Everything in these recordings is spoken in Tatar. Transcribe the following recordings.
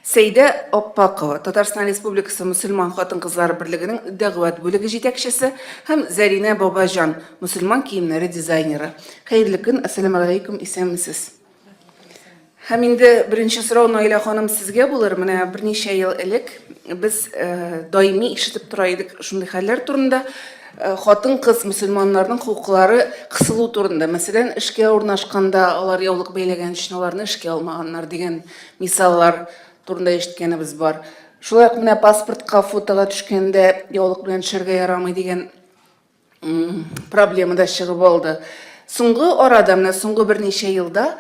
Сәйдә Аппакова, Татарстан Республикасы мөселман хатын-кызлары берлегенең дәгъват бүлеге җитәкчесе һәм Зәринә Бабаҗан, мөселман киемнәре дизайнеры. Хәерле көн, ассаламу алейкум, исәнмесез. Һәм инде беренче сорау Наилә ханым сезгә булыр. Менә берничә ел элек без э, даими ишетеп тора идек шундый хәлләр турында. Э, хатын-кыз мөселманнарның хокуклары кысылу турында, мәсәлән, эшкә урнашканда алар яулык бәйләгән өчен аларны эшкә алмаганнар дигән мисаллар турында ишеткәнебез бар. Шулай ук менә паспортка фотога төшкәндә яулык белән төшәргә ярамый дигән проблема да чыгып алды. Соңгы арада, менә соңгы берничә елда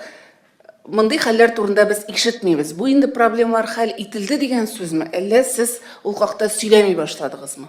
мондый хәлләр турында без ишетмибез. Бу инде проблемалар хәл ителде дигән сүзме? Әллә сез ул хакта сөйләми башладыгызмы?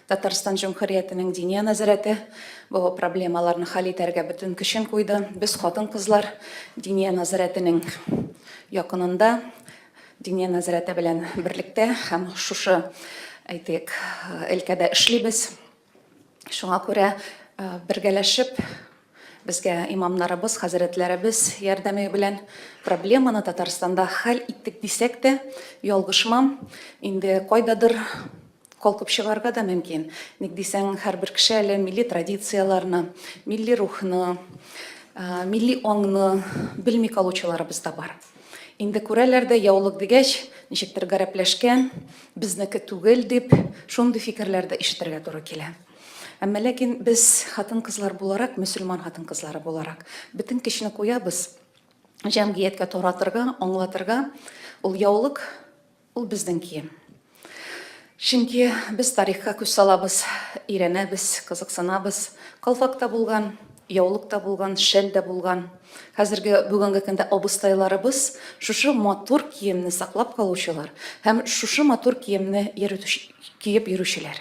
Татарстан Җөмһүриятенең Диния нәзарәте бу проблемаларны хәл итәргә бөтен көчен куйды. Без хатын-кызлар Диния нәзарәтенең якынында, Диния нәзарәте белән берлектә һәм шушы, әйтик, өлкәдә эшлибез. Шуңа күрә бергәләшеп безгә имамнарыбыз, хәзрәтләребез ярдәме белән проблеманы Татарстанда хәл иттек дисәк тә, ялгышмам. Инде кайдадыр Калкып чыгарга да мөмкин. Ник дисәң, һәрбер кеше әле милли традицияләрне, милли рухны, милли аңны белми калучыларыбыз да бар. Инде күрәләр дә яулык дигәч, ничектер гарәпләшкән, безнеке түгел дип, шундый фикерләр дә ишетергә туры килә. Әмма ләкин без хатын-кызлар буларак, мөселман хатын-кызлары буларак, бөтен көчне куябыз җәмгыятькә таратырга, аңлатырга. Ул яулык Ул безнең кием. Чөнки без тарихка күз салабыз, өйрәнәбез, кызыксынабыз. Калфак та булган, яулык та булган, шәл дә булган. Хәзерге, бүгенге көндә абыстайларыбыз шушы матур киемне саклап калучылар һәм шушы матур киемне киеп йөрүчеләр.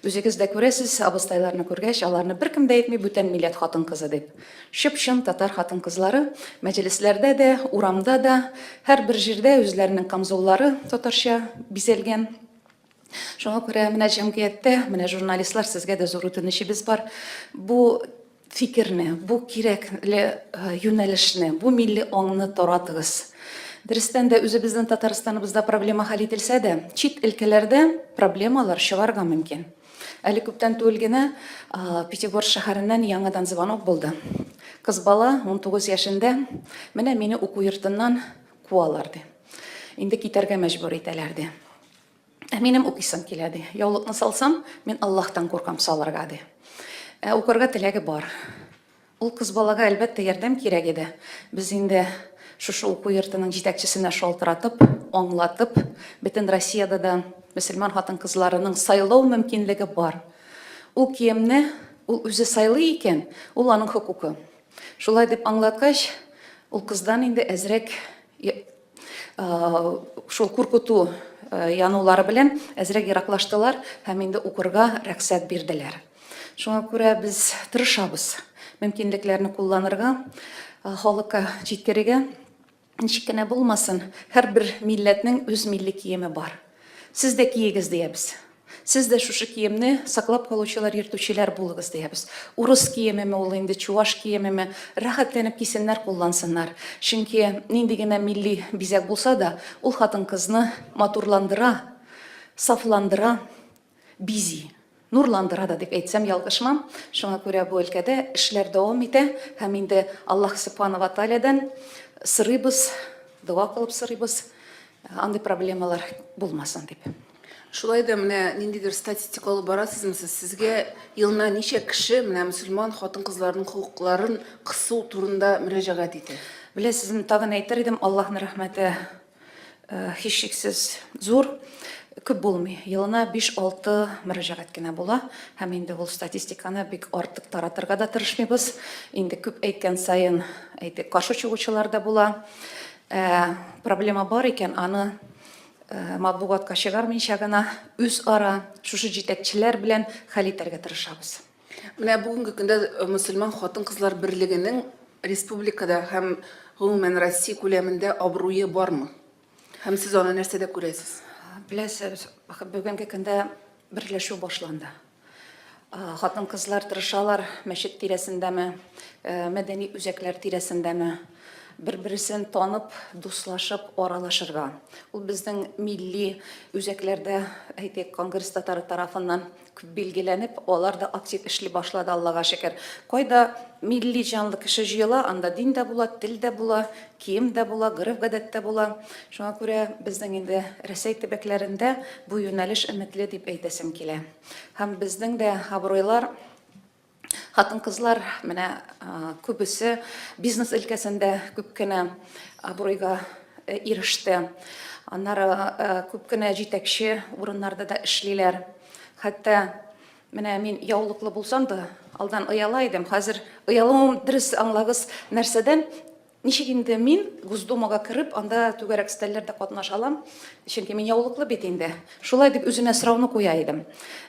Үзегез дә күрәсез, абыстайларны күргәч, аларны беркем дә әйтми бүтән милләт хатын-кызы дип. Чып-чын татар хатын-кызлары, мәҗлесләрдә дә, урамда да, һәрбер җирдә үзләренең камзуллары татарча бизәлгән. Шуңа күрә менә җәмгыятьтә, менә журналистлар, сезгә дә зур үтенечебез бар. Бу фикерне, бу кирәкле юнәлешне, бу милли аңны таратыгыз. Дөрестән дә, үзебезнең Татарстаныбызда проблема хәл ителсә дә, чит өлкәләрдә проблемалар чыгарга мөмкин. Әле күптән түгел генә Пятигор шәһәреннән яңадан звонок булды. Кыз бала 19 яшендә, менә мине уку йортыннан куалар ди. Инде китәргә мәҗбүр итәләр ди. Ә минем укыйсым килә, ди. Яулыкны салсам, мин Аллаһтан куркам салырга, ди. Ә укырга теләге бар. Ул кыз балага, әлбәттә, ярдәм кирәк иде. Без инде шушы уку йортының җитәкчесенә шалтыратып, аңлатып, бөтен Россиядә дә мөселман хатын-кызларының сайлау мөмкинлеге бар. Ул киемне ул үзе сайлый икән, ул аның хокукы. Шулай дип аңлаткач, ул кыздан инде әзрәк шул куркыту янулары белән әзрәк ераклаштылар һәм инде укырга рәхсәт бирделәр. Шуңа күрә без тырышабыз мөмкинлекләрне кулланырга, халыкка җиткерергә. Ничек кенә булмасын, һәрбер милләтнең үз милли киеме бар. Сез дә киегез, диябез. Сез дә шушы киемне саклап калучылар, йөртүчеләр булыгыз, диябез. Урыс киемеме ул инде, чуваш киемеме, рәхәтләнеп кисеннәр, куллансыннар. Чөнки нинди генә милли бизәк булса да, ул хатын-кызны матурландыра, сафландыра, бизи. Нурландыра да дип әйтсәм, ялгышмам. Шуңа күрә бу өлкәдә эшләр дәвам итә. Һәм инде Аллаһ Сөбхана ва Тәгаләдән сорыйбыз, дога кылып сорыйбыз, андый проблемалар булмасын дип. Шулай да менә ниндидер статистика алып барасызмы сез? Сезгә елына ничә кеше менә мөселман хатын-кызларның хокукларын кысу турында мөрәҗәгать итә? Беләсезме, тагын әйтер идем, Аллаһның рәхмәте һичшиксез зур. Күп булмый. Елына 5-6 мөрәҗәгать кенә була. Һәм инде ул статистиканы бик артык таратырга да тырышмыйбыз. Инде күп әйткән саен, әйтик, каршы чыгучылар да була. Проблема бар икән, аны матбугатка чыгармыйча гына үзара шушы җитәкчеләр белән хәл итәргә тырышабыз. Менә бүгенге көндә э, мөселман хатын-кызлар берлегенең республикада һәм гомумән Россия күләмендә абруе бармы? Һәм сез аны нәрсәдә күрәсез? Беләсез, бүгенге көндә берләшү башланды. Хатын-кызлар тырышалар мәчет тирәсендәме, э, мәдәни үзәкләр тирәсендәме, бер-берсен танып, дуслашып, аралашырга. Ул безнең милли үзәкләрдә, әйтик, конгресс татары тарафыннан күп билгеләнеп, алар да актив эшли башлады, Аллага шөкер. Кайда милли җанлы кеше җыела, анда дин дә була, тел дә була, Кием дә була, гореф-гадәт тә була. Шуңа күрә безнең инде Рәсәй төбәкләрендә бу юнәлеш өметле дип әйтәсем килә. Һәм безнең дә абруйлар, хатын-кызлар менә күбесе бизнес өлкәсендә күп кенә абруйга иреште. Аннары күп кенә җитәкче урыннарда да эшлиләр. Хәтта Менә мин яулыклы булсам да, алдан ояла идем. Хәзер оялуым дөрес аңлагыз нәрсәдән? Ничек инде мин Госдумага кереп, анда түгәрәк стәлләрдә катнаша алам? Чөнки мин яулыклы бит инде. Шулай дип үземә сорауны куя идем.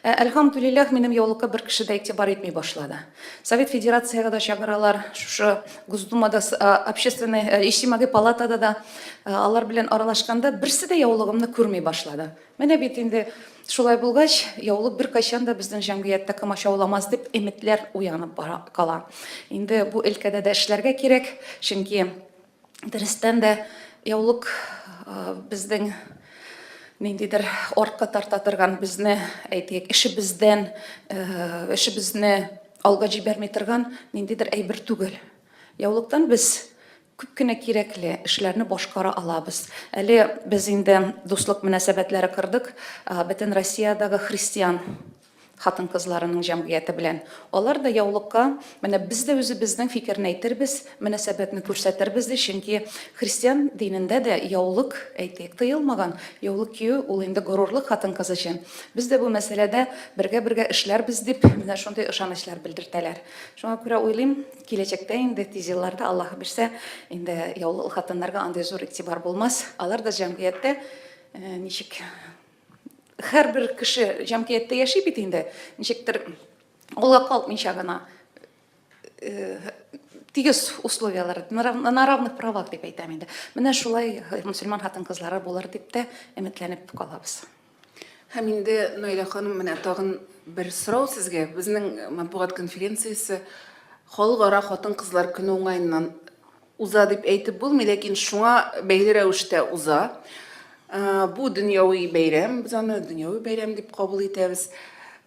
Ә әлхәмдүлилләһ, минем яулыкка бер кеше дә игътибар итми башлады. Совет Федерацияга да чыгаралар, шушы Госдумада, общественный, иҗтимагый палатада да алар белән аралашканда берсе дә яулыгымны күрми башлады. Менә бит инде шулай булгач, яулык беркайчан да безнең җәмгыятьтә комачауламас дип өметләр уянып бара кала. Инде бу өлкәдә дә эшләргә кирәк, чөнки дөрестән дә яулык безнең ниндидер артка тарта торган безне әйтик эшебездән эшебезне алга җибәрми торган ниндидер әйбер түгел яулыктан без Күп кенә кирәкле эшләрне башкара алабыз. Әле без инде дуслык мөнәсәбәтләре кордык Бөтен Россиядагы христиан хатын-кызларының җәмгыяте белән. Алар да яулыкка менә без дә үзебезнең фикерне әйтербез, мөнәсәбәтне күрсәтербез ди, чөнки христиан динендә дә яулык, әйтик, тыелмаган. Яулык кию ул инде горурлык хатын-кыз өчен. Без дә бу мәсьәләдә бергә-бергә эшләрбез, дип, менә шундый ышанычлар белдертәләр. Шуңа күрә уйлыйм, Киләчәктә инде, тиз елларда, Аллаһы бирсә, инде яулы ул хатыннарга андый зур игътибар булмас. Алар да җәмгыятьтә ничек һәрбер кеше җәмгыятьтә яши бит инде, ничектер кулга калкмыйча гына тигез условияләр, на равных правах дип әйтәм инде. Менә шулай мөселман хатын-кызлары булыр дип тә өметләнеп калабыз. Һәм инде, Наилә ханым, менә тагын бер сорау сезгә. Безнең матбугат конференциясе Халыкара хатын-кызлар көне уңаеннан уза дип әйтеп булмый, ләкин шуңа бәйле рәвештә уза. Э, бу дөньяви бәйрәм, без аны дөньяви бәйрәм дип кабул итәбез.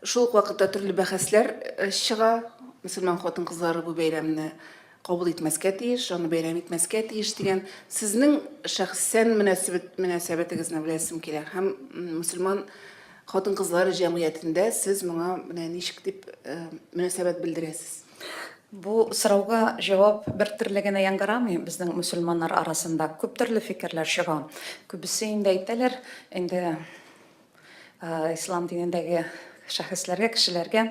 Шул ук вакытта төрле бәхәсләр э, чыга. Мөселман хатын-кызлары бу бәйрәмне кабул итмәскә тиеш, аны бәйрәм итмәскә тиеш дигән сезнең шәхсән мөнәсәбәт мөнәсәбәтегезне беләсем килә һәм мөселман хатын-кызлар җәмгыятендә сез моңа менә ничек дип э, мөнәсәбәт белдерәсез? Бу сорауга җавап бер төрле генә яңгырамый. Безнең мөселманнар арасында күп төрле фикерләр чыга. Күбесе инде әйтәләр, инде Ислам динендәге шәхесләргә, кешеләргә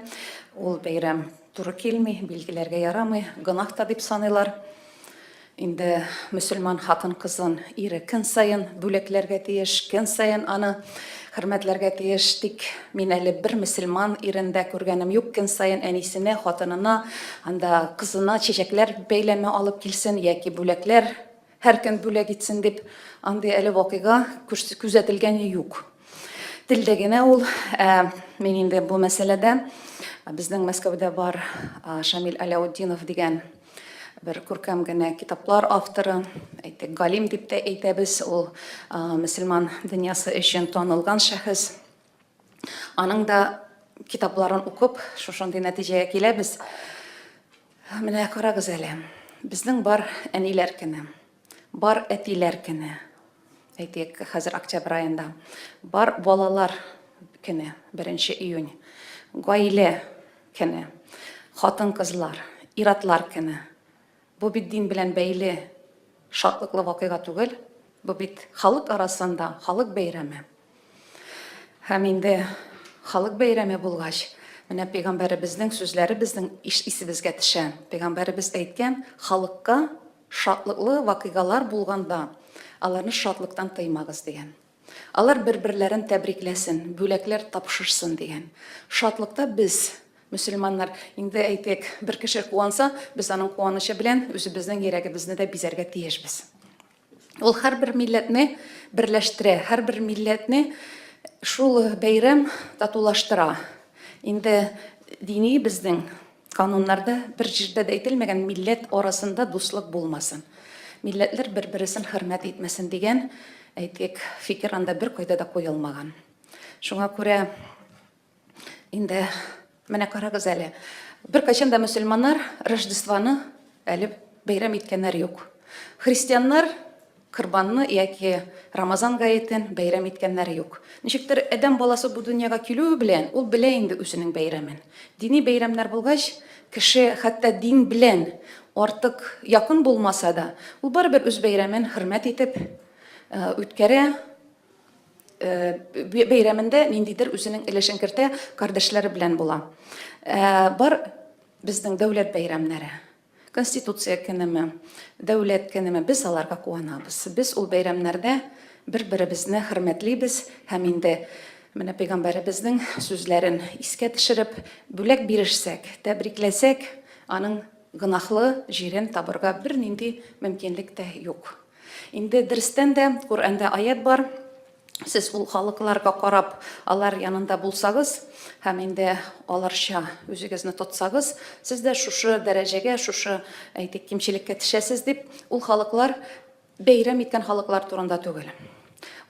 ул бәйрәм туры килми, билгеләргә ярамый, гөнаһ та дип саныйлар. Инде мөселман хатын кызын ире көн саен бүләкләргә тиеш, көн саен аны хөрмәтләргә тиеш. Тик мин әле бер мөселман ирендә күргәнем юк, көн саен әнисенә, хатынына, анда кызына чәчәкләр бәйләме алып килсен яки бүләкләр Һәр көн бүләк итсен дип, андый әле вакыйга күзәтелгәне юк. Телдә генә ул, ә мин инде бу мәсьәләдә безнең Мәскәүдә бар Шамил Аляутдинов дигән бер күркәм генә китаплар авторы, әйтик, галим дип тә әйтәбез, ул мөселман дөньясы өчен танылган шәхес. Аның да китапларын укып, шушындый нәтиҗәгә киләбез. Менә карагыз әле. Безнең бар әниләр көне, бар әтиләр көне. Әйтик, хәзер октябрь аенда. Бар балалар көне, 1 июнь. Гаилә көне, хатын-кызлар, иратлар көне. Бу бит дин белән бәйле шатлыклы вакыйга түгел, бу бит халык арасында халык бәйрәме. Һәм инде халык бәйрәме булгач, менә пәйгамбәребезнең сүзләре безнең исебезгә төшә. Пәйгамбәребез әйткән, халыкка шатлыклы вакыйгалар булганда, аларны шатлыктан тыймагыз дигән. Алар бер-берләрен тәбрикләсен, бүләкләр тапшырсын дигән шатлыкта без, мөселманнар, инде, әйтик, бер кеше куанса, без аның куанычы белән үзебезнең йөрәгебезне дә бизәргә тиешбез. Ул һәрбер милләтне берләштерә, һәрбер милләтне шул бәйрәм татулаштыра. Инде дини безнең Кануннарда бер җирдә дә әйтелмәгән милләт арасында дуслык булмасын, милләтләр бер-бересен хөрмәт итмәсен дигән, әйтик, фикер анда беркайда да куелмаган. Шуңа күрә инде менә карагыз әле, беркайчан да мөселманнар Рождествоны әле бәйрәм иткәннәр юк. Христианнар Корбанны яки Рамазан гаетен бәйрәм иткәннәр юк. Ничектер, адәм баласы бу дөньяга килүе белән, ул белә инде үзенең бәйрәмен. Дини бәйрәмнәр булгач, кеше хәтта дин белән артык якын булмаса да, ул барыбер үз бәйрәмен хөрмәт итеп үткәрә, бәйрәмендә ниндидер үзенең өлешен кертә, кардәшләре белән була. Бар безнең дәүләт бәйрәмнәре. Конституция көнеме, Дәүләт көнеме, без аларга куанабыз. Без ул бәйрәмнәрдә бер-беребезне хөрмәтлибез һәм инде менә Пәйгамбәребезнең сүзләрен искә төшереп, бүләк бирешсәк, тәбрикләсәк, аның гөнаһлы җирен табырга бернинди мөмкинлек тә юк. Инде дөрестән дә Коръәндә аять бар, Сез ул халыкларга карап, алар янында булсагыз һәм инде аларча үзегезне тотсагыз, сез дә шушы дәрәҗәгә, шушы, әйтик, кимчелеккә төшәсез, дип, ул халыклар бәйрәм иткән халыклар турында түгел.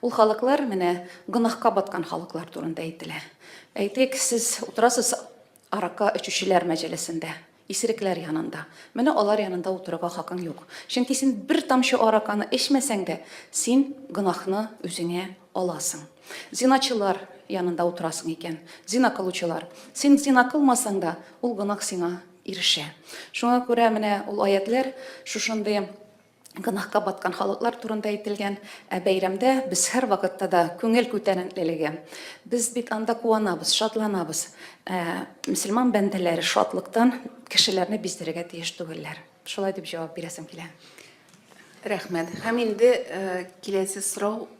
Ул халыклар менә гөнаһка баткан халыклар турында әйтелә. Әйтик, сез утырасыз аракы эчүчеләр мәҗәлесендә. Исерекләр янында. Менә алар янында утырырга хакың юк. Чөнки син бер тамчы араканы эчмәсәң дә, син гөнаһны үзеңә аласың. Зиначылар янында утырасың икән, зина кылучылар. Син зина кылмасаң да, ул гөнаһ сиңа ирешә. Шуңа күрә менә ул аятьләр шушындый гөнаһка баткан халыклар турында әйтелгән. Ә бәйрәмдә без һәрвакытта да күңел күтәренкелеге. Без бит анда куанабыз, шатланабыз. Ә мөселман бәндәләре шатлыктан кешеләрне биздерергә тиеш түгелләр. Шулай дип җавап бирәсем килә. Рәхмәт. Һәм инде киләсе сорау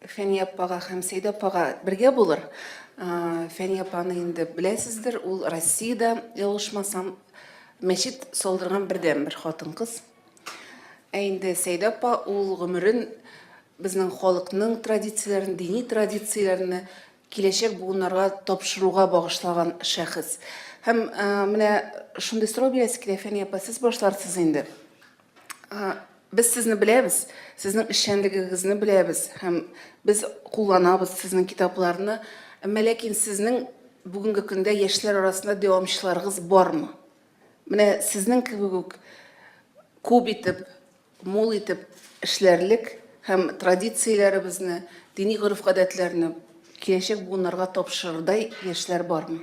Фәния апага һәм Сәйдә апага бергә булыр. Фәния апаны инде беләсездер, ул Россиядә, ялгышмасам, мәчет салдырган бердән бер хатын-кыз. Ә инде Сәйдә апа ул гомерен безнең халыкның традицияләрен, дини традицияләрне киләчәк буыннарга тапшыруга багышлаган шәхес. Һәм менә шундый сорау бирәсе килә, Фәния апа, сез башларсыз инде. Без сезне беләбез, сезнең эшчәнлегегезне беләбез һәм без кулланабыз сезнең китапларны. Әмма ләкин сезнең бүгенге көндә яшьләр арасында дәвамчыларыгыз бармы? Менә сезнең кебек үк күп итеп, мул итеп эшләрлек һәм традицияләребезне, дини гореф-гадәтләрне киләчәк буыннарга тапшырырдай яшьләр бармы?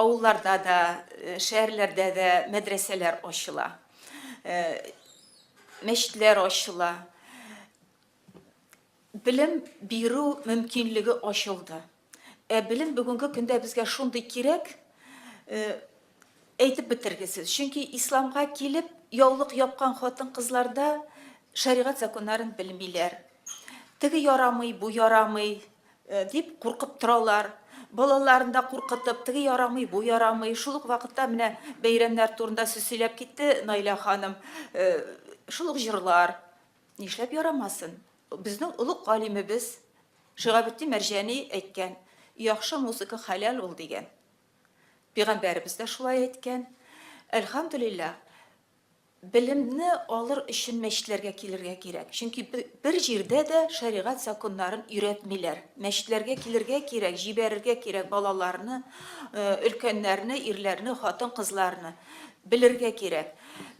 Авылларда да, шәһәрләрдә дә мәдрәсәләр ачыла, мәчетләр ачыла. Белем бирү мөмкинлеге ачылды. Ә белем бүгенге көндә безгә шундый кирәк, әйтеп бетергесез. Чөнки исламга килеп, яулык япкан хатын-кызларда шәригать законнарын белмиләр. Теге ярамый, бу ярамый, Дип куркып торалар. Балаларын да куркытып, теге ярамый, бу ярамый. Шул ук вакытта менә бәйрәмнәр турында сүз сөйләп китте Наилә ханым. Шул ук җырлар. Нишләп ярамасын? Безнең олуг галимебез Шигабетдин Мәрҗани әйткән, яхшы музыка хәләл ул дигән. Пигамбәребез дә шулай әйткән. Әлхәмдулиллаһ. Белемне алыр өчен мәчетләргә килергә кирәк. Чөнки бер җирдә дә шәригать законнарын өйрәтмиләр. Мәчетләргә килергә кирәк, җибәрергә кирәк балаларны, өлкәннәрне, ирләрне, хатын-кызларны. Белергә кирәк.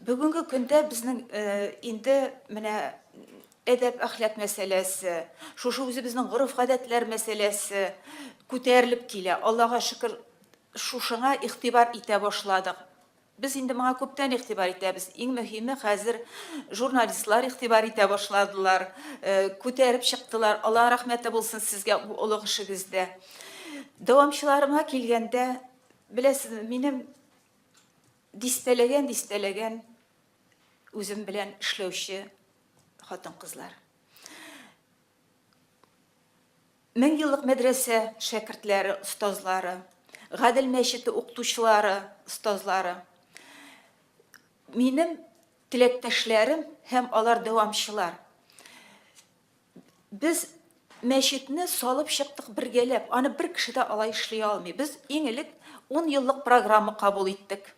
Бүгенге көндә безнең инде менә әдәп-әхлак мәсьәләсе, шушы үзебезнең гореф-гадәтләр мәсьәләсе күтәрелеп килә. Аллага шөкер, шушыңа игътибар итә башладык. Без инде моңа күптән игътибар итәбез. Иң мөһиме, хәзер журналистлар игътибар итә башладылар, күтәреп чыктылар. Аллаһ рәхмәте булсын сезгә бу олуг эшегездә. Дәвамчыларыма килгәндә, беләсезме, минем дистәләгән-дистәләгән үзем белән эшләүче хатын-кызлар. Меңьеллык мәдрәсә шәкертләре, остазлары, Гадел мәчете укытучылары, остазлары, минем теләктәшләрем һәм алар дәвамчылар. Без мәчетне салып чыктык бергәләп, аны бер кеше дә алай эшли алмый. Без иң элек ун еллык программа кабул иттек.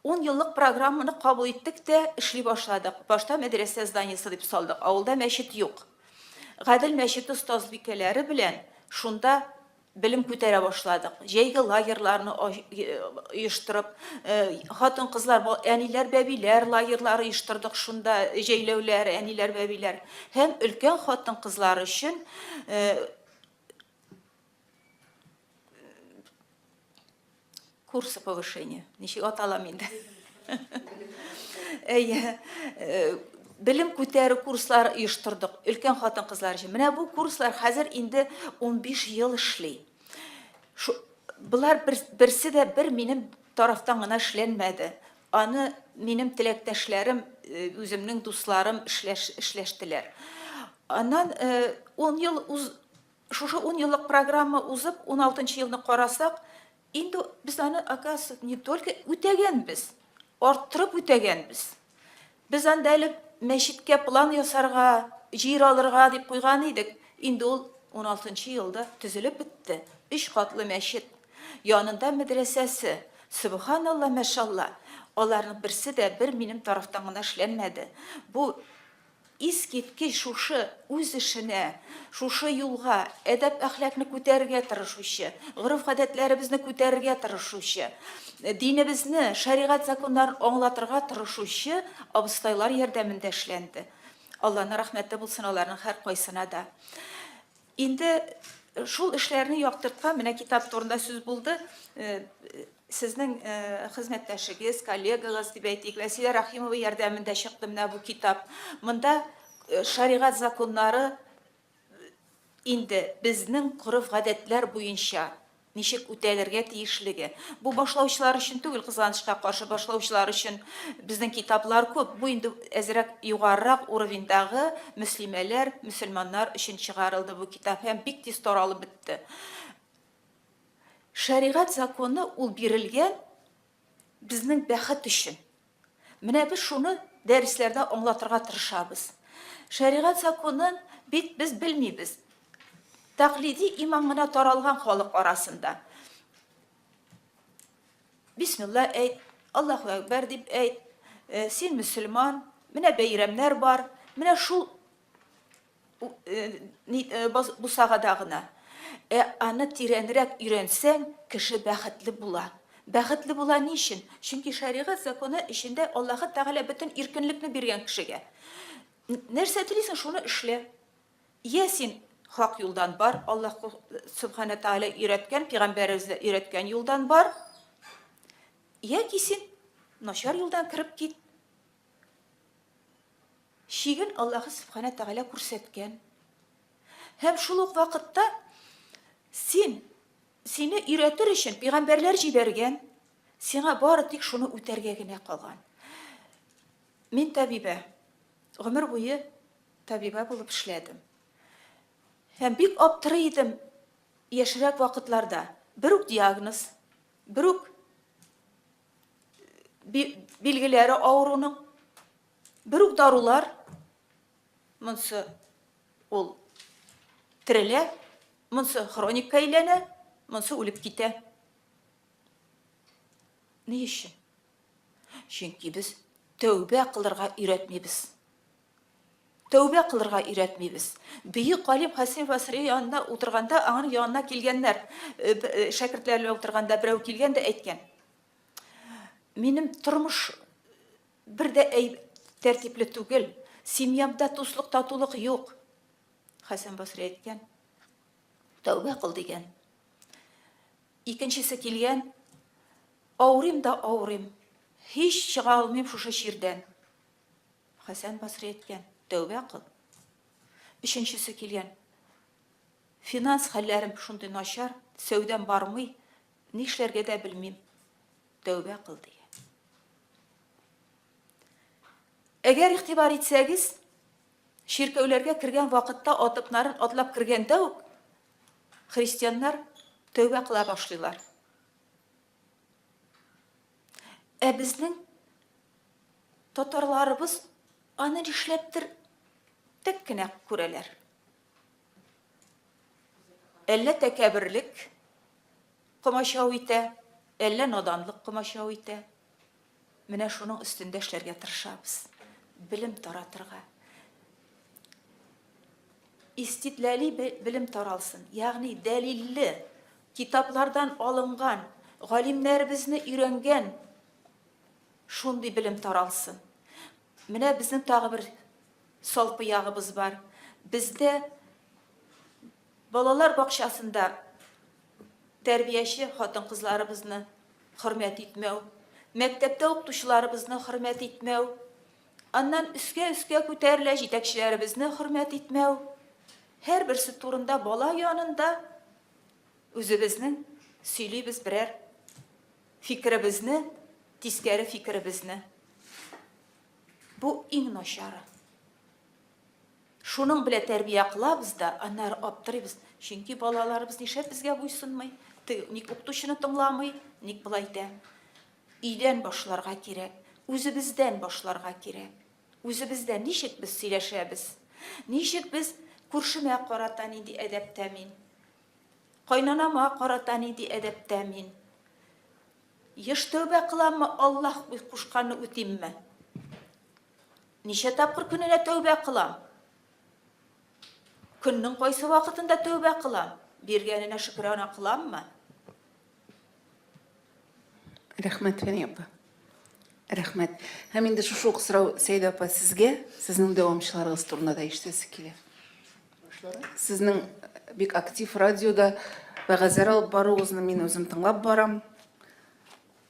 Ун еллык программаны кабул иттек тә, эшли башладык. Башта мәдрәсә зданиесе дип салдык. Авылда мәчет юк. Гадел мәчете остазбикәләре белән шунда белем күтәрә башладык. Җәйге лагерьларны оештырып, хатын-кызлар, әниләр, бәбиләр лагерьлары оештырдык шунда, җәйләүләр, әниләр, бәбиләр. Һәм өлкән хатын-кызлар өчен курсы повышения ничек аталам инде әйе э, белем күтәрү курслары оештырдык өлкән хатын кызлар өчен менә бу курслар хәзер инде 15 ел эшли Шу, болар бер, берсе дә бер минем тарафтан гына эшләнмәде Аны минем теләктәшләрем, үземнең дусларым эшләштеләр. Аннан ун ел уз, шушы ун еллык программа узып, ун алтынчы елны карасак, инде без аны, оказывается, не только үтәгәнбез, арттырып үтәгәнбез. Без анда элек мәчеткә план ясарга, җир алырга дип куйган идек, инде ул уналтынчы елда төзелеп бетте, өч катлы мәчет, янында мәдрәсәсе, сөбханалла, мәшалла, аларның берсе дә бер минем тарафтан гына эшләнмәде, бу искиткеч шушы Үз эшенә, шушы юлга, әдәп-әхлакны күтәрергә тырышучы, гореф-гадәтләребезне күтәрергә тырышучы, динебезне, шәригать законнарын аңлатырга тырышучы абыстайлар ярдәмендә эшләнде. Алланың рәхмәте булсын аларның һәркайсына да. Инде шул эшләрне яктырткан, менә китап турында сүз булды, Сезнең хезмәттәшегез, коллегагыз дип әйтик, Вәсилә Рәхимова ярдәмендә чыкты менә бу китап. Монда шәригать законнары инде безнең гореф-гадәтләр буенча ничек үтәлергә тиешлеге. Бу башлаучылар өчен түгел, кызганычка каршы, башлаучылар өчен безнең китаплар күп. Бу инде әзрәк югарырак уровеньдагы мөслимәләр, мөселманнар өчен чыгарылды бу китап һәм бик тиз таралып бетте. Шәригать законы ул бирелгән безнең бәхет өчен. Менә без шуны дәресләрдә аңлатырга тырышабыз. Шәригать законын бит без белмибез. Тәкълиди иман гына таралган халык арасында. Бисмилла әйт, Аллаһу әкбәр дип әйт, э, син мөселман, менә бәйрәмнәр бар, менә шул бусагада гына. Ә аны тирәнрәк өйрәнсәң, кеше бәхетле була. Бәхетле була ни өчен? Чөнки шәригать законы эчендә Аллаһы Тәгалә бөтен иркенлекне биргән кешегә. Нәрсә телисең, шуны эшлә. Йә син хак юлдан бар, Аллаһ Субхана Тәгалә өйрәткән, пигамбәребез дә өйрәткән юлдан бар. Яки син начар юлдан кереп кит. Чиген Аллаһы Сөбханә Тәгалә күрсәткән. Һәм шул ук вакытта син, сине өйрәтер өчен пигамбәрләр җибәргән, сиңа бары тик шуны үтәргә генә калган. Мин табибә, гомер буе табибә булып эшләдем. Һәм бик аптырый идем яшьрәк вакытларда. Бер үк диагноз, бер үк билгеләре авыруның. Бер үк дарулар, монсы ул терелә, монсы хроникка әйләнә, монсы үлеп китә. Ни өчен? Чөнки без тәүбә кылырга өйрәтмибез. Тәүбә кылырга өйрәтмибез. Бөек галим Хәсән Басри янында утырганда, аның янына килгәннәр, э, э, шәкертләре белән утырганда берәү килгән дә әйткән. Минем тормыш Бер дә әй тәртипле түгел. Семьямда дуслык, татулык юк. Хәсән Басри әйткән, тәүбә кыл дигән. Икенчесе килгән, авырыйм да авырыйм, һич чыга алмыйм шушы чирдән. Хәсән Басри әйткән, тәүбә кыл. Өченчесе килгән, финанс хәлләрем шундый начар, сәүдәм бармый, нишләргә дә белмим. Тәүбә кыл, ди. Әгәр игътибар итсәгез, чиркәүләргә кергән вакытта атыкларын атлап кергәндә үк христианнар тәүбә кыла башлыйлар. Ә безнең татарларыбыз аны нишләптер тек кенә күрәләр. Әллә тәкәберлек, Комачау итә, әллә наданлык комачау итә. Менә шуның өстендә эшләргә тырышабыз. Белем таратырга. Истидләли белем таралсын. Ягъни дәлилле, китаплардан алынган, галимнәребезне өйрәнгән шундый белем таралсын. Менә безнең тагы бер салпы ягыбыз бар. Бездә Балалар бакчасында тәрбияче хатын-кызларыбызны хөрмәт итмәү, мәктәптә укытучыларыбызны хөрмәт итмәү, аннан өскә-өскә күтәрелә, җитәкчеләребезне хөрмәт итмәү, һәрберсе турында бала янында үзебезнең сөйлибез берәр фикеребезне, тискәре фикеребезне. Бу иң начары. Шуның белә тәрбия кылабыз да, аннары аптырыйбыз, чөнки балаларыбыз нишләп безгә буйсынмый, теге ник укытучыны тыңламый, ник болай итә? Өйдән башларга кирәк, үзебездән башларга кирәк. Үзебездән ничек без сөйләшәбез? Ничек без күршемә карата нинди әдәптә мин? Кайнанама карата нинди әдәптә мин? Еш тәүбә кыламмы, Аллаһ кушканны үтимме? Ничә тапкыр көненә тәүбә кыла? Көннең кайсы вакытында тәүбә кыла? Биргәненә шөкерана кыламмы? Рәхмәт, Фәния апа. Рәхмәт. Һәм инде шушы ук сорау Сәйдә апа сезгә, сезнең дәвамчыларыгыз турында да ишетәсе килә. Сезнең бик актив радиода вәгазьләр алып баруыгызны мин үзем тыңлап барам.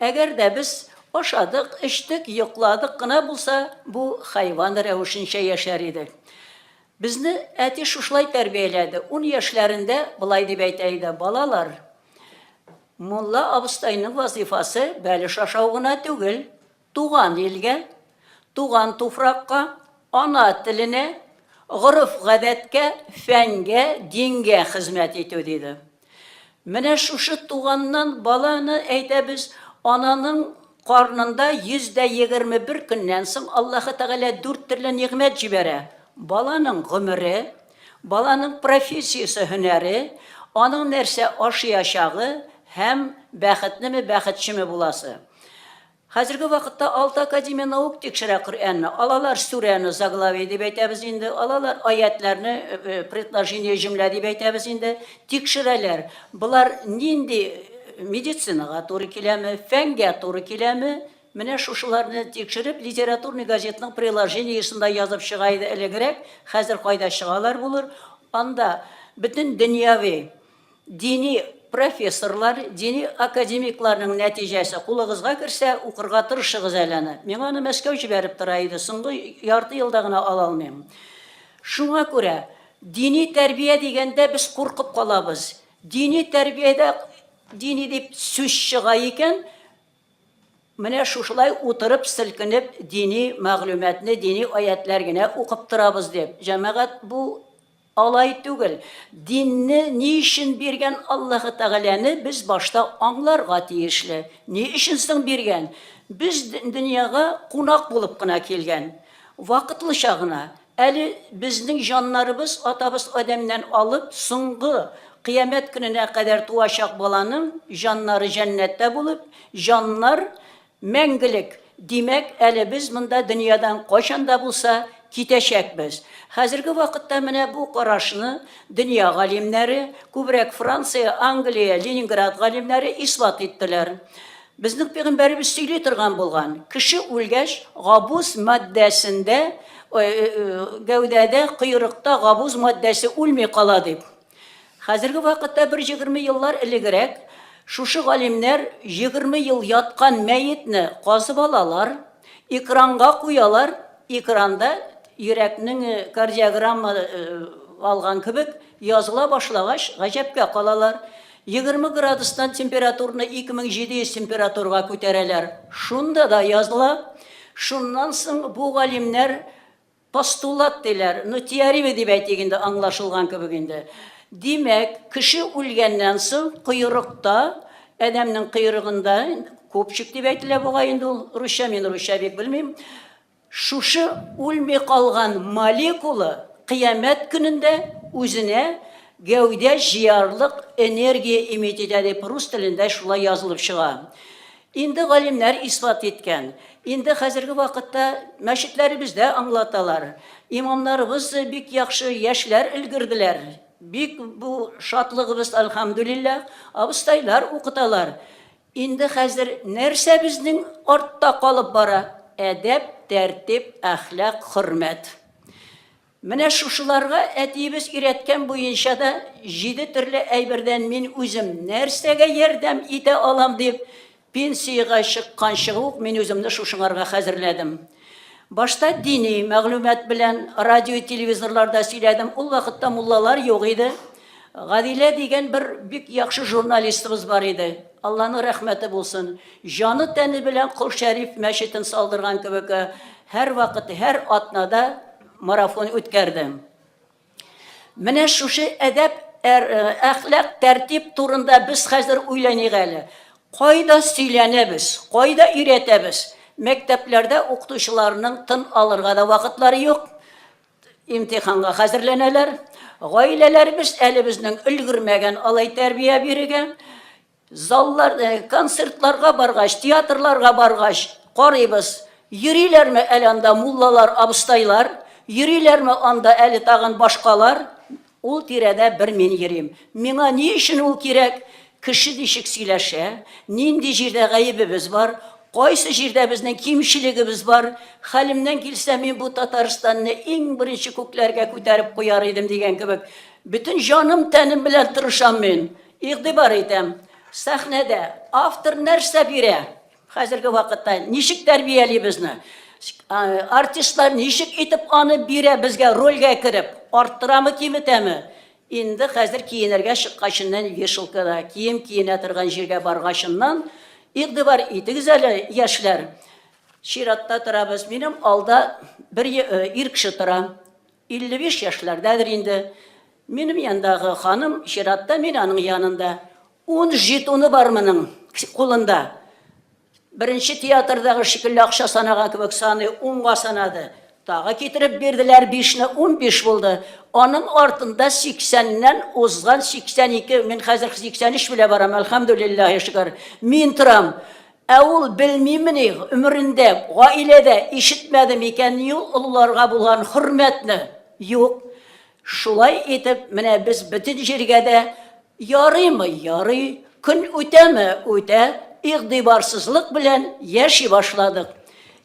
Әгәр дә без ашадык, эчтек, йокладык кына булса, бу хайван рәвешенчә яшәр идек. Безне әти шушылай тәрбияләде, ун яшьләрендә болай дип әйтә иде, Балалар, мулла абыстайның вазыйфасы бәлеш ашау гына түгел, туган илгә, туган туфракка, ана теленә, гореф-гадәткә, фәнгә, дингә хезмәт итү, диде. Менә шушы туганнан баланы әйтәбез, ананың карнында 121 көннән соң Аллаһы Тәгалә дүрт төрле нигъмәт җибәрә, баланың гомере, баланың профессиясе, һөнәре, аның нәрсә ашыячагы һәм бәхетлеме, бәхетчеме буласы. Хәзерге вакытта алты академия наук тикшерә Коръәнне. Алалар сүрәне, заглавие дип әйтәбез инде, алалар аятьләрне, предложение, җөмлә дип әйтәбез инде, тикшерәләр. Болар нинди медицинага туры киләме, фәнгә туры киләме, менә шушыларны тикшереп, литературный газетның приложениесында язып чыга иде элегрәк, хәзер кайда чыгалар булыр, анда бөтен дөньяви Дини профессорлар, дини академикларның нәтиҗәсе кулыгызга керсә, укырга тырышыгыз әле аны. Миңа аны Мәскәү җибәреп тора иде, соңгы ярты елда гына ала алмыйм. Шуңа күрә дини тәрбия дигәндә без куркып калабыз. Дини тәрбиядә дини дип сүз чыга икән, Менә шушылай утырып, селкенеп, дини мәгълүматны, дини аятьләр генә укып торабыз дип, җәмәгать, бу алай түгел. Динне ни өчен биргән Аллаһы Тәгаләне без башта аңларга тиешле. Ни өчен соң биргән? Без дөньяга кунак булып кына килгән. Вакытлыча гына. Әле безнең җаннарыбыз атабыз Адәмнән алып соңгы Кыямәт көненә кадәр туачак баланың җаннары җәннәттә булып, җаннар мәңгелек, димәк, әле без монда дөньядан кайчан да булса китәчәкбез. Хәзерге вакытта менә бу карашны дөнья галимнәре, күбрәк Франция, Англия, Ленинград галимнәре исбат иттеләр. Безнең пигамбәребез сөйли торган булган, кеше үлгәч, габуз матдәсендә, гәүдәдә, койрыкта габуз матдәсе үлми кала дип. Хәзерге вакытта бер егерме еллар элегрәк шушы галимнәр егерме ел яткан мәетне казып алалар, экранга куялар, экранда йөрәкнең кардиограмма алган кебек языла башлагач, гаҗәпкә калалар. Егерме градустан температурны 2700 температурага күтәрәләр. Шунда да языла. Шуннан соң бу галимнәр постулат диләр, ну теория дип әйтик инде, аңлашылган кебек инде. Димәк, кеше үлгәннән соң койрыкта, адәмнең койрыгында, купчик дип әйтелә бугай инде ул, русча, мин русча бик белмим, Шушы үлми калган молекула кыямәт көнендә үзенә гәүдә җыярлык энергия эмит итә дип рус телендә шулай язылып чыга. Инде галимнәр исбат иткән. Инде хәзерге вакытта мәчетләребездә аңлаталар. Имамнарыбыз бик яхшы яшьләр өлгерделәр. Бик бу шатлыгыбыз, әлхәмдүлилләһ, абыстайлар укыталар. Инде хәзер нәрсә безнең артта калып бара? Әдәп, тәртип, әхлак, хөрмәт. Менә шушыларга әтиебез өйрәткән буенча да җиде төрле әйбердән мин үзем нәрсәгә ярдәм итә алам дип, пенсиягә чыкканчы ук мин үземне шушыңарга хәзерләдем. Башта дини мәгълүмат белән радио-телевизорларда сөйләдем. Ул вакытта муллалар юк иде. Гадилә дигән бер бик яхшы журналистыбыз бар иде. Алланың рәхмәте булсын. Җаны тәне белән Кол Шәриф мәчетен салдырган кебек, һәрвакыт, һәр атнада марафон үткәрде. Менә шушы әдәп, әр, э, әхлак, тәртип турында без хәзер уйланыйк әле. Кайда сөйләнәбез, кайда өйрәтәбез? Мәктәпләрдә укытучыларның тын алырга да вакытлары юк. Имтиханга хәзерләнәләр. Гаиләләребез әле безнең өлгермәгән алай тәрбия бирергә. Заллар, э, концертларга баргач, театрларга баргач, карыйбыз, йөриләрме әле анда муллалар, абыстайлар, йөриләрме анда әле тагын башкалар, ул тирәдә бер мин йөрим. Миңа ни өчен ул кирәк? Кеше ничек сөйләшә, нинди җирдә гаебебез бар, кайсы җирдә безнең кимчелегебез бар, хәлемнән килсә, мин бу Татарстанны иң беренче күкләргә күтәреп куяр идем дигән кебек, бөтен җаным-тәнем белән тырышам мин. Игътибар итәм, сәхнәдә автор нәрсә бирә, хәзерге вакытта ничек тәрбияли безне, артистлар ничек итеп аны бирә безгә рольгә кереп, арттырамы, киметәме? Инде хәзер киенергә чыккачыннан вешалкада, кием киенә торган җиргә баргачыннан, игътибар итегез әле, яшьләр, чиратта торабыз. Минем алда бер ир кеше тора. 55 яшьләрдәдер инде. Минем яндагы ханым чиратта мин аның янында. Ун жетоны бар моның кулында. Беренче театрдагы шикелле акча санаган кебек саный, унга санады. Тагы китереп бирделәр, бишне, унбиш булды. Аның артында сиксәннән узган 82, мин хәзер 83 белә барам, әлхәмдүлиллаһи шөкер. Мин торам. Ә ул белмимени, гомерендә, гаиләдә ишетмәде микәнни ул олыларга булган хөрмәтне? Юк. Шулай итеп, менә без бөтен җиргә дә, ярыймы, ярый, көн үтәме, үтә, игъдибарсызлык белән яши башладык.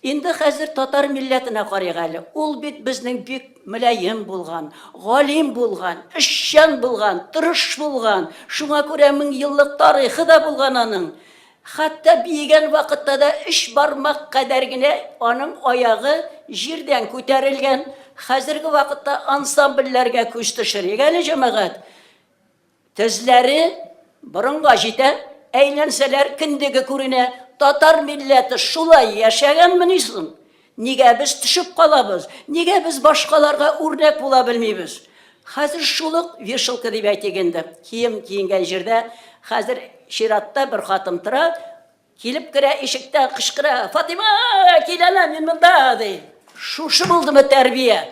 Инде хәзер татар милләтенә карыйк әле. Ул бит безнең бик мөлаем булган, галим булган, эшчән булган, тырыш булган, шуңа күрә меңьеллык тарихы да булган аның. Хәтта биегән вакытта да өч бармак кадәр генә аның аягы җирдән күтәрелгән. Хәзерге вакытта ансамбльләргә күз төшерик әле, җәмәгать. Тезләре борынга җитә, әйләнсәләр, кендеге күренә. Татар милләте шулай яшәгәнмени соң? Нигә без төшеп калабыз? Нигә без башкаларга үрнәк була белмибез? Хәзер шул ук вешалка дип әйтик инде. Кием киенгән җирдә хәзер чиратта бер хатын тора, килеп керә, ишектән кычкыра, Фатыйма, кил әнә, мин монда, ди. Шушы булдымы тәрбия?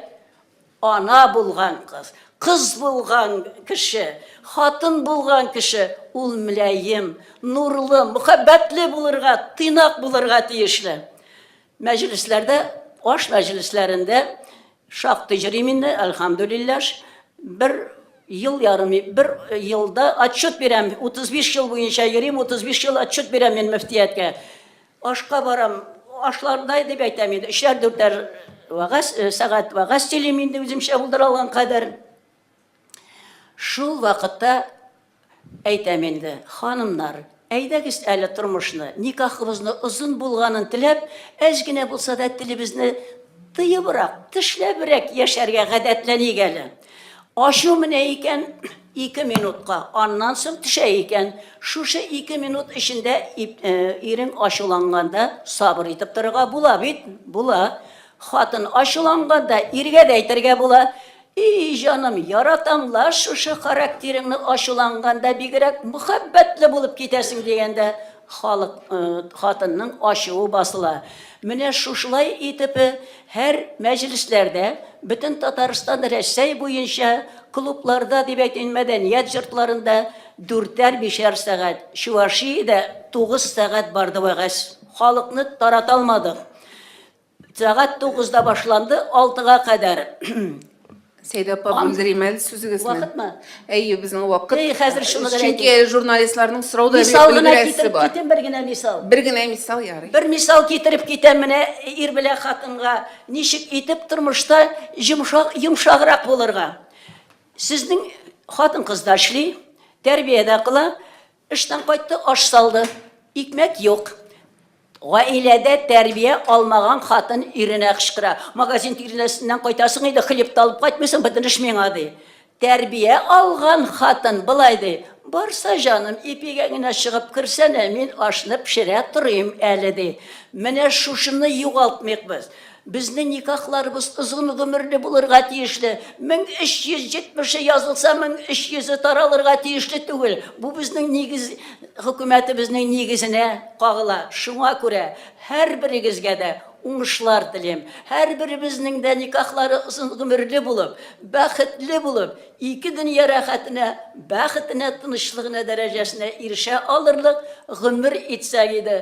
Ана булган кыз, кыз булган кеше, хатын булган кеше ул мөләем, нурлы, мөхәббәтле булырга, тыйнак булырга тиешле. Мәҗлесләрдә, аш мәҗлесләрендә шактый җөрим инде, әлхәмдүлилләш, бер ел ярым, бер елда отчет бирәм, 35 ел буенча йөрим, 35 ел отчет бирәм мин мөфтияткә. Ашка барам, ашлардай дип әйтәм инде, өчәр-дүртәр вәгазь, э, сәгать вәгазь сөйлим инде үземчә булдыра алган кадәр. Шул вакытта әйтәм инде, ханымнар, әйдәгез әле тормышны, никахыбызны озын булганын теләп, әз генә булса да телебезне тыебрак, тешләбрәк яшәргә гадәтләник әле. Ачу менә икән, Ике минутка, аннан соң төшә икән. Шушы ике минут эчендә ирең ачуланганда сабыр итеп торырга була бит? Була. Хатын ачуланганда иргә дә әйтергә була, И, җаным, яратам ла шушы характерыңны, ачуланганда бигрәк мөхәббәтле булып китәсең, дигәндә халык, хатынның ачуы басыла. Менә шушылай итеп, Һәр мәҗлесләрдә бөтен Татарстан Рәсәй буенча клубларда дип әйтим, мәдәният йортларында дүртәр-бишәр сәгать, Чувашиядә тугыз сәгать барды вәгазь. Халыкны тарата алмадык. Сәгать тугызда башланды, алтыга кадәр Сәйдә апа, Ан... бүлдерим әле сүзегезне. Вакытмы? Әйе, безнең вакыт. Әй, хәзер шуны гына Чөнки әле журналистларның сорау да Мисал гына китереп бар. китем, бер генә мисал. Бер генә мисал ярый. Бер мисал китереп китәм менә ир белән хатынга ничек итеп тормышта йомшак, йомшаграк булырга. Сезнең хатын-кыз да эшли, тәрбия дә кыла, Эштән кайтты, аш салды. Икмәк юк. Гаиләдә тәрбия алмаган хатын иренә кычкыра. Магазин тирәсеннән кайтасың иде, хлеб та алып кайтмыйсың, бөтен эш миңа, ди. Тәрбия алган хатын болай ди, Барса, җаным, ипигә генә чыгып керсәнә, мин ашны пешерә торыйм әле, ди. Менә шушыны югалтмыйк без. Безнең никахларыбыз озын гомерле булырга тиешле. 1370-е язылса, 1300-е таралырга тиешле түгел. Бу безнең нигез, хөкүмәтебезнең нигезенә кагыла. Шуңа күрә һәрберегезгә дә уңышлар телим. Һәрберебезнең дә никахлары озын гомерле булып, бәхетле булып, ике дөнья рәхәтенә, бәхетенә, тынычлыгына дәрәҗәсенә ирешә алырлык гомер итсәк иде.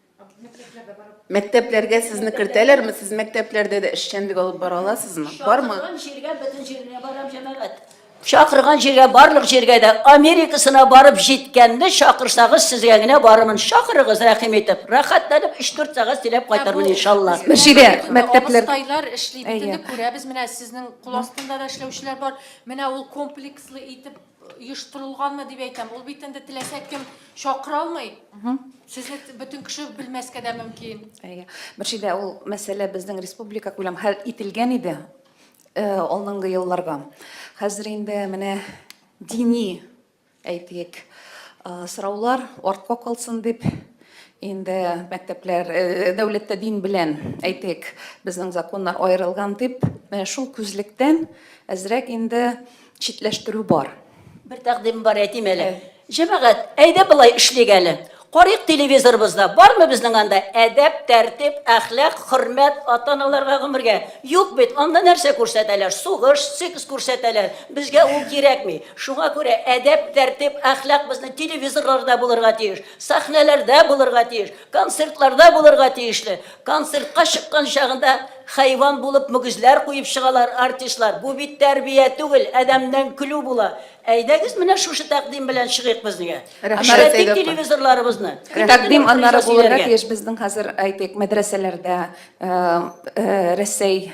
Мәктәпләргә сезне кертәләрме? Сез мәктәпләрдә дә эшчәнлек алып бара аласызмы? Бармы? Чакырган җиргә бөтен җиренә барам җәмәгать. Чакырган җиргә барлык җиргә дә Америкасына барып җиткәнне чакырсагыз сезгә генә барырмын. Чакырыгыз рәхим итеп. Рәхәтләнеп 3-4 сәгать сөйләп кайтырмын иншалла. Мөршидә, мәктәпләр- Абыстайлар эшли, бөтенне күрәбез, менә сезнең кул астында да эшләүчеләр бар. Менә ул комплекслы итеп оештырылганмы дип әйтәм. Ул бит инде теләсә кем чакыра алмый. Сезне бөтен кеше белмәскә дә мөмкин. Әйе. Мөршидә, ул мәсьәлә безнең республика күләм хәл ителгән иде э, алдынгы елларга. Хәзер инде менә дини, әйтик, э, сораулар артка калсын дип инде мәктәпләр э, дәүләттә дин белән әйтик, безнең законнар аерылган дип, шул күзлектән әзрәк инде читләштерү бар. Бер тәкъдим бар, әйтим әле. Җәмәгать, әйдә болай эшлик әле. Карыйк телевизорыбызда, бармы безнең анда әдәп, тәртип, әхлак, хөрмәт, ата-аналарга гомергә? Юк бит, анда нәрсә күрсәтәләр? Сугыш, секс күрсәтәләр. Безгә ул кирәкми. Шуңа күрә әдәп, тәртип, әхлак безнең телевизорларда булырга тиеш, сәхнәләрдә булырга тиеш, концертларда булырга тиешле. Концертка чыккан чагында хайван булып мөгезләр куеп чыгалар артистлар. Бу бит тәрбия түгел, адәмнән көлү була. Әйдәгез менә шушы тәкъдим белән чыгыйк безнеге. Эшләтик телевизорларыбызны. Тәкъдим аннары булырга тиеш безнең хәзер әйтик мәдрәсәләрдә Рәсәй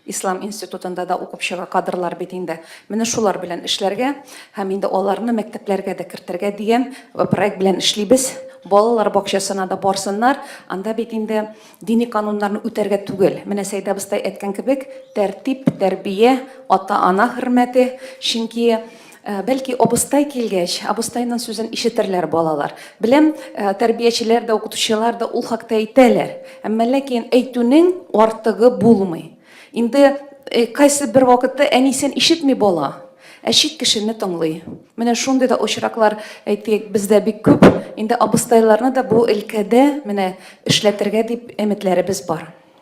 Ислам институтында да укып чыга кадрлар бит инде. Менә шулар белән эшләргә һәм инде аларны мәктәпләргә дә кертергә дигән проект белән эшлибез. Балалар бакчасына да барсыннар, анда бит инде дини кануннарны үтәргә түгел. Менә Сәйдә абыстай әйткән кебек, тәртип, тәрбия, ата-ана хөрмәте. Чөнки. Бәлки абыстай килгәч, абыстайның сүзен ишетерләр балалар. Беләм, тәрбиячеләр дә, укытучылар да ул хакта әйтәләр. Әмма ләкин әйтүнең артыгы булмый. Инде кайсы бер вакытта әнисен ишетми бала, ә чит кешене тыңлый. Менә шундый да очраклар, әйтик, бездә бик күп. Инде абыстайларны да бу өлкәдә менә эшләтергә дип өметләребез бар.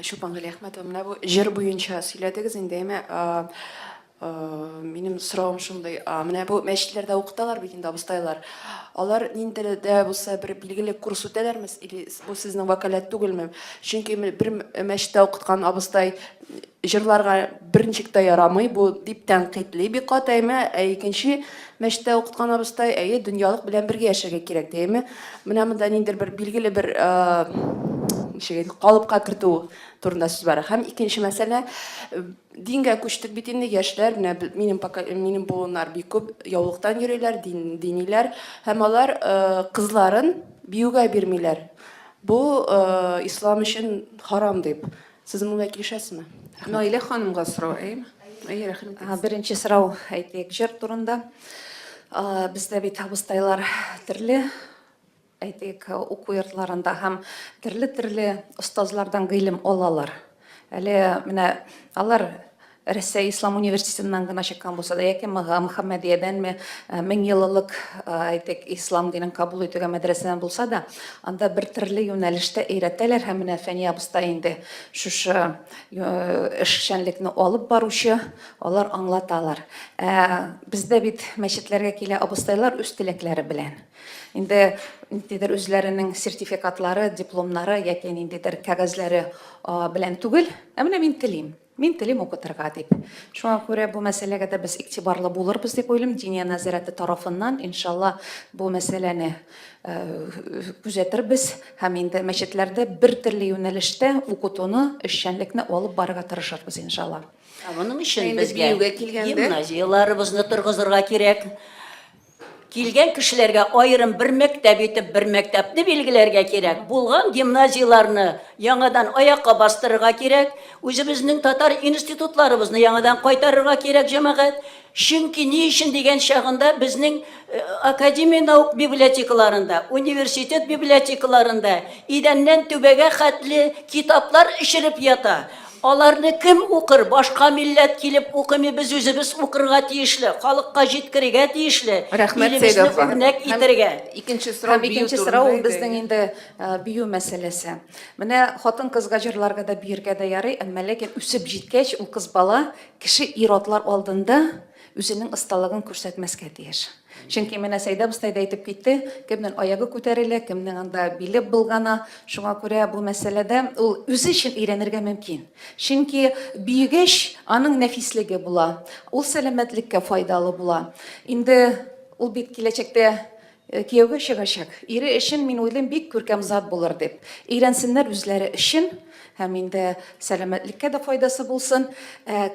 Чулпан Галиәхмәтова, менә бу җыр буенча сөйләдегез инде, әмма минем сорауым шундый, менә бу мәчетләрдә укыталар бит инде абыстайлар. Алар нинди телдә булса бер билгеле курс үтәләрме или бу сезнең вәкаләт түгелме? Чөнки бер мәчеттә укыткан абыстай җырларга берничек тә ярамый, бу дип тәнкыйтьли бик каты, әмма икенче Мәчеттә укыткан абыстай, әйе, дөньялык белән бергә яшәргә кирәк, дияме? Менә монда ниндер бер билгеле бер ничек калыпка кертү турында сүз бара. Һәм икенче мәсьәлә, дингә күчтек бит инде яшьләр, менә минем минем буыннар бик күп яулыктан йөриләр, дин, диниләр һәм алар кызларын биюгә бирмиләр. Бу ислам өчен харам дип. Сез моңа килешәсезме? Наилә ханымга сорау, әйеме? Әйе, рәхим итегез. Беренче сорау, әйтик, җыр турында. Бездә бит абыстайлар төрле әйтик, уку йортларында һәм төрле-төрле остазлардан гыйлем алалар. Әле менә алар Рәсәй Ислам университетыннан гына чыккан булса да, яки Мөхәммәдиядәнме, меңьеллылык, әйтик, ислам динен кабул итүгә мәдрәсәдән булса да, анда бер төрле юнәлештә өйрәтәләр һәм менә Фәния абыстай инде шушы эшчәнлекне алып баручы, алар аңлаталар. Ә бездә бит мәчетләргә килә абыстайлар үз теләкләре белән. Инде ниндидер үзләренең сертификатлары, дипломнары яки ниндидер кәгазьләре белән түгел, ә менә мин телим. Мин телим укытырга, дип. Шуңа күрә бу мәсьәләгә дә без игътибарлы булырбыз дип уйлыйм. Диния нәзарәте тарафыннан, иншалла, бу мәсьәләне күзәтербез һәм инде мәчетләрдә бертөрле юнәлештә укытуны, эшчәнлекне алып барырга тырышырбыз, иншалла. Ә моның өчен безгә гимназияләребезне торгызырга кирәк. Килгән кешеләргә аерым бер мәктәп итеп бер мәктәпне билгеләргә кирәк. Булган гимназияләрне яңадан аякка бастырырга кирәк. Үзебезнең татар институтларыбызны яңадан кайтарырга кирәк, җәмәгать. Чөнки ни өчен дигән чагында безнең академия наук библиотекаларында, университет библиотекаларында идәннән түбәгә хәтле китаплар эчереп ята. Аларны кем укыр, башка милләт килеп укымый, без үзебез укырга тиешле, халыкка җиткерергә тиешле, илебезне үрнәк итәргә. Икенче сорау бию турында иде. Һәм икенче сорау ул безнең инде бию мәсьәләсе. Менә хатын-кызга җырларга да, биергә дә ярый, әмма ләкин үсеп җиткәч, ул кыз бала кеше ир-атлар алдында үзенең осталыгын күрсәтмәскә тиеш. Чөнки менә Сәйдә абыстай да әйтеп китте, кемнең аягы күтәрелә, кемнең анда биле болгана. Шуңа күрә бу мәсьәләдә ул үзе өчен өйрәнергә мөмкин. Чөнки биегәч, аның нәфислеге була, ул сәламәтлеккә файдалы була. Инде ул бит киләчәктә Кияүгә чыгачак ире өчен, мин уйлыйм, бик күркәм зат булыр дип. Өйрәнсеннәр үзләре өчен һәм инде сәламәтлеккә дә файдасы булсын. Ә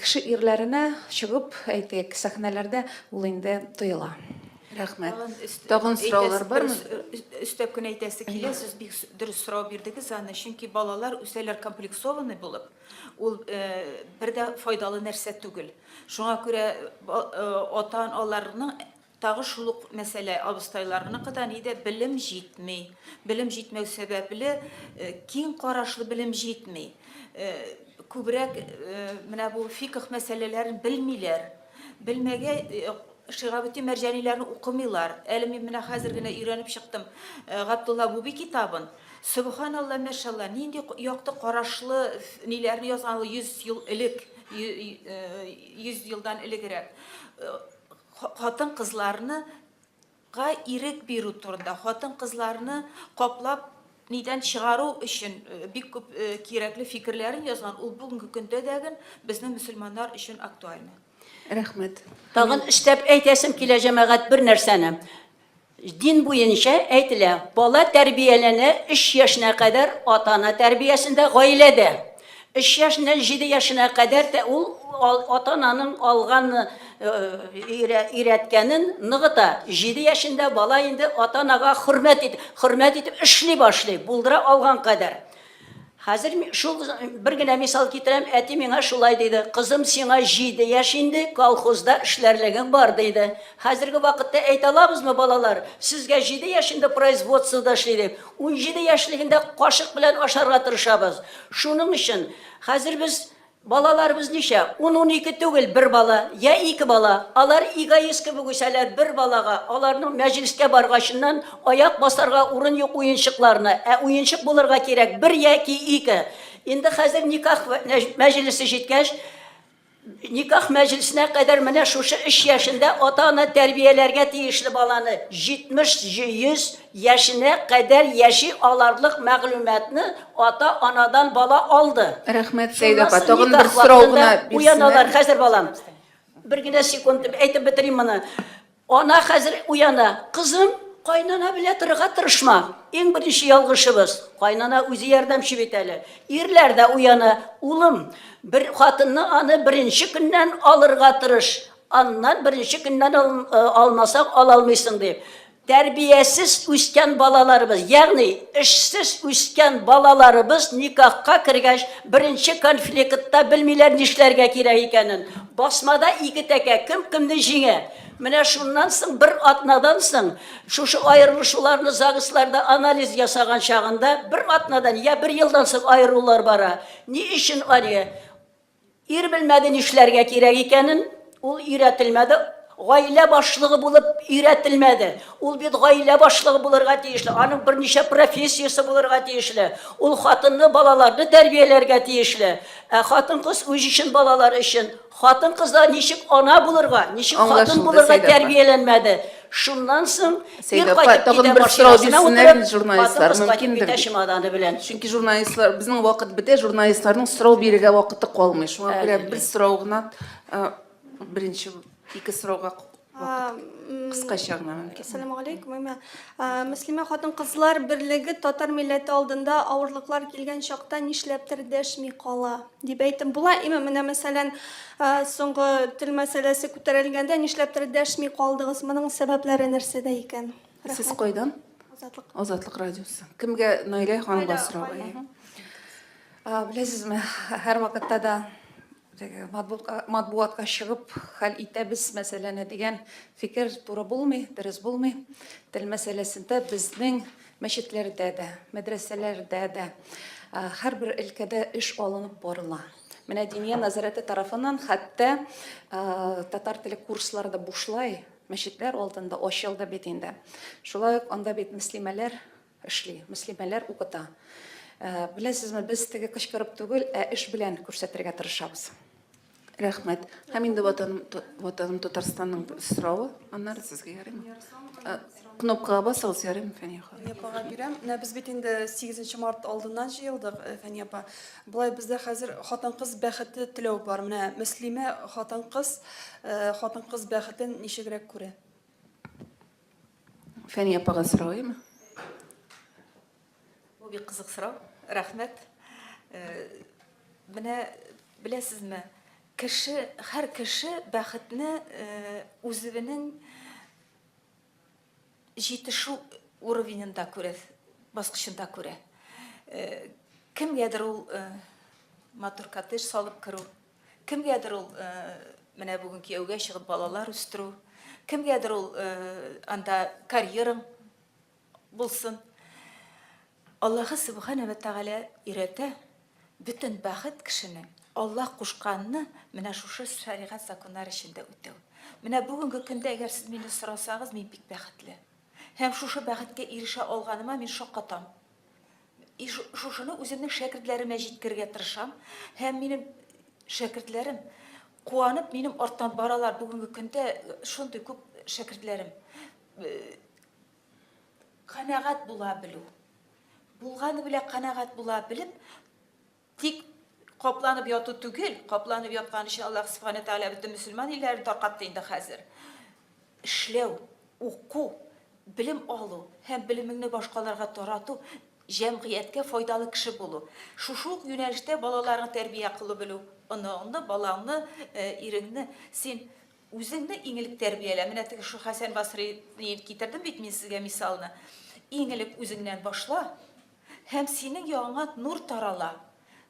кеше ирләренә чыгып, әйтик, сәхнәләрдә ул инде тоела. Рәхмәт. Тагын сораулар бармы? Өстәп кенә әйтәсе килә, сез бик дөрес сорау бирдегез аны, чөнки балалар үсәләр комплексованный булып, ул бер дә файдалы нәрсә түгел. Шуңа күрә ата-аналарның Тагы шул ук мәсьәлә абыстайларныкы да ни дә, белем җитми. Белем җитмәү сәбәпле, киң карашлы белем җитми. Күбрәк менә бу фикх мәсьәләләрен белмиләр. Белмәгә Шигабетдин Мәрҗаниләрне укымыйлар. Әле мин менә хәзер генә өйрәнеп чыктым Габдулла Буби китабын. Сөбханалла, мәшалла, нинди якты карашлы ниләрне язган ул 100 ел элек, 100 елдан элегрәк. Хатын-кызларны га ирек бирү турында, хатын-кызларны каплап нидән чыгару өчен бик күп кирәкле фикерләрен язган, ул бүгенге көндә дәген безнең мөселманнар өчен актуальны. Рәхмәт. Тагын өстәп әйтәсем килә, җәмәгать, бер нәрсәне. Дин буенча әйтелә, бала тәрбияләнә өч яшенә кадәр ата-ана тәрбиясендә, гаиләдә. Өч яшеннән җиде яшенә кадәр тә ул ата-ананың алган өйрәткәнен ныгыта. Җиде яшендә бала инде ата-анага хөрмәт итеп, хөрмәт итеп эшли башлый, булдыра алган кадәр. Хәзер шул бер генә мисал китерәм, әти миңа шулай диде, кызым, сиңа җиде яшь инде, колхозда эшләрлегең бар, диде. Хәзерге вакытта әйтә алабызмы, балалар, сезгә җиде яшь инде производствода эшли дип? Унҗиде яшьлегендә кашык белән ашарга тырышабыз. Шуның өчен хәзер без Балаларыбыз ничә? Ун-унике түгел, бер бала, йә ике бала. Алар эгоист кебек үсәләр, бер балага, аларның мәҗлескә баргачыннан, аяк басарга урын юк уенчыкларына, ә уенчык булырга кирәк, бер яки ике. Инде хәзер никах мәҗлесе җиткәч, никах мәҗлесенә кадәр менә шушы өч яшендә ата-ана тәрбияләргә тиешле баланы, җитмеш, йөз, яшенә кадәр яши аларлык мәгълүматны ата-анадан бала алды. Рәхмәт, Сәет апа. Тагын бер сорау гына бирсеннәр. Хәзер, балам. Бер генә секунд дип әйтеп бетерим моны. Ана хәзер уяна. Кызым, кайнана белә торырга тырышма. Иң беренче ялгышыбыз. Кайнана үзе ярдәмче бит әле. Ирләр дә уяна. Улым, бер хатынны аны беренче көннән алырга тырыш. Аннан беренче көннән алмасаң, ала алмыйсың, дип. Тәрбиясез үскән балаларыбыз, ягъни эшсез үскән балаларыбыз никахка кергәч, беренче конфликытта белмиләр нишләргә кирәк икәнен. Басмада ике тәкә, кем кемне җиңә. Менә шуннан соң, бер атнадан соң, шушы аерылышуларны ЗАГСларда анализ ясаган чагында, бер атнадан я бер елдан соң аерылулар бара. Ни өчен аны? Ир белмәде нишләргә кирәк икәнен, ул өйрәтелмәде, гаилә башлыгы булып өйрәтелмәде. Ул бит гаилә башлыгы булырга тиешле, аның берничә профессиясе булырга тиешле. Ул хатынны, балаларны тәрбияләргә тиешле. Ә хатын-кыз үз өчен, балалар өчен. Хатын-кызлар ничек ана булырга, ничек хатын булырга тәрбияләнмәде? Шуннан соң Сәйдә апа, тагын бер сорау бирсеннәр инде журналистлар, мөмкиндер бит. Чемоданы белән. Чөнки журналистлар, безнең вакыт бетә, журналистларның сорау бирергә вакыты калмый. Шуңа күрә бер сорау гына, беренче ике сорауга кыскача гына мөмкин. Ассаламу алейкум, имя. Мөслимә хатын-кызлар берлеге татар милләте алдында авырлыклар килгән чакта нишләптер дәшми кала? Дип әйтеп була. Имә менә мәсәлән, соңгы тел мәсьәләсе күтәрелгәндә нишләптер дәшми калдыгыз? Моның сәбәпләре нәрсәдә икән? Рәхмәт. Сез кайдан? Азатлык. Азатлык радиосы. Кемгә Наилә ханымга сорау? Беләсезме, һәрвакытта да теге матбугатка чыгып хәл итәбез мәсьәләне дигән фикер туры булмый, дөрес булмый. Тел мәсьәләсендә безнең Мәчетләрдә дә, мәдрәсәләрдә дә, һәрбер өлкәдә эш алынып барыла. Менә Диния нәзарәте тарафыннан хәтта татар теле курслары да бушлай мәчетләр алдында ачылды бит инде. Шулай ук анда бит мөслимәләр эшли, мөслимәләр укыта. Беләсезме, без теге кычкырып түгел, ә эш белән күрсәтергә тырышабыз. Рәхмәт. Һәм инде ватаным, ватаным Татарстанның соравы, аннары сезгә ярыймы? Э, кнопкага басыгыз, ярыймы, Фәния ханым? Фәния апага бирәм. Менә без бит инде 8 март алдыннан җыелдык, э, Фәния апа. Болай бездә хәзер хатын-кыз бәхете теләү бар. Менә Мөслимә хатын-кыз, э, хатын-кыз бәхетен ничегрәк күрә? Фәния апага сорауымы? Бу бик кызык сорау. Рәхмәт. Менә беләсезме, кеше, һәр кеше бәхетне үзенең җитешү уровененда күрә, баскычында күрә. Кемгәдер ул матур коттедж салып керү, кемгәдер ул менә бүген кияүгә чыгып балалар үстерү, кемгәдер ул анда карьераң Булсын. Аллаһы Сөбхәнә вә Тәгалә өйрәтә, бөтен бәхет кешенең Аллаһ кушканны менә шушы шәригать законнар эчендә үтәү. Менә бүгенге көндә әгәр сез мине сорасагыз, мин бик бәхетле. Һәм шушы бәхеткә ирешә алганыма мин шаккатам. И шушыны үземнең шәкертләремә җиткергә тырышам һәм минем шәкертләрем куанып минем арттан баралар бүгенге көндә шундый күп шәкертләрем Канәгать була белү. Булганы белән канәгать була белеп, тик капланып яту түгел, капланып яткан өчен Аллаһ Субхану Тәгалә бөтен мөселман илләрен таркатты инде хәзер. Эшләү, уку, белем алу һәм белемеңне башкаларга тарату, җәмгыятькә файдалы кеше булу. Шушы ук юнәлештә балаларны тәрбия кылу белү, оныңны, балаңны, э, иреңне син Үзеңне иң элек тәрбиялә. Менә теге шул Хәсән Басрыйны китердем бит мин сезгә мисалны. Иң элек үзеңнән башла, һәм синең ягыңа нур тарала.